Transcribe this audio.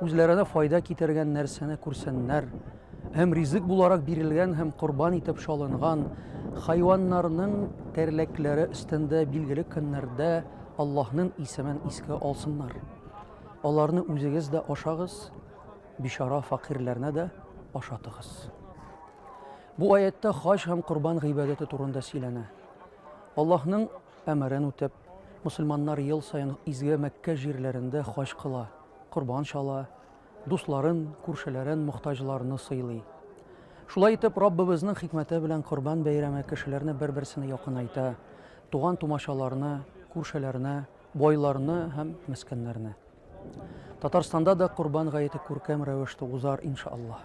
Үзләренә файда китергән нәрсәне күрсеннәр һәм ризык буларак бирелгән һәм корбан итеп чалынган хайваннарның тәрләкләре өстендә билгеле көннәрдә Аллаһның исемен искә алсыннар. Аларны үзегез дә ашагыз, бичара фәкыйрьләрне дә ашатыгыз. Бу аятьтә хаҗ һәм корбан гыйбадәте турында сөйләнә. Аллаһның әмерен үтәп, мөселманнар ел саен изге Мәккә җирләрендә хаҗ кыла, корбан чала, дусларын, күршеләрен, мохтаҗларны сыйлый. Шулай итеп, Раббыбызның хикмәте белән Корбан бәйрәме кешеләрне бер-берсенә якынайта, туган-тумачаларны, күршеләрне, байларны һәм мескеннәрне. Татарстанда да Корбан гаете күркәм рәвештә узар, иншаллаһ.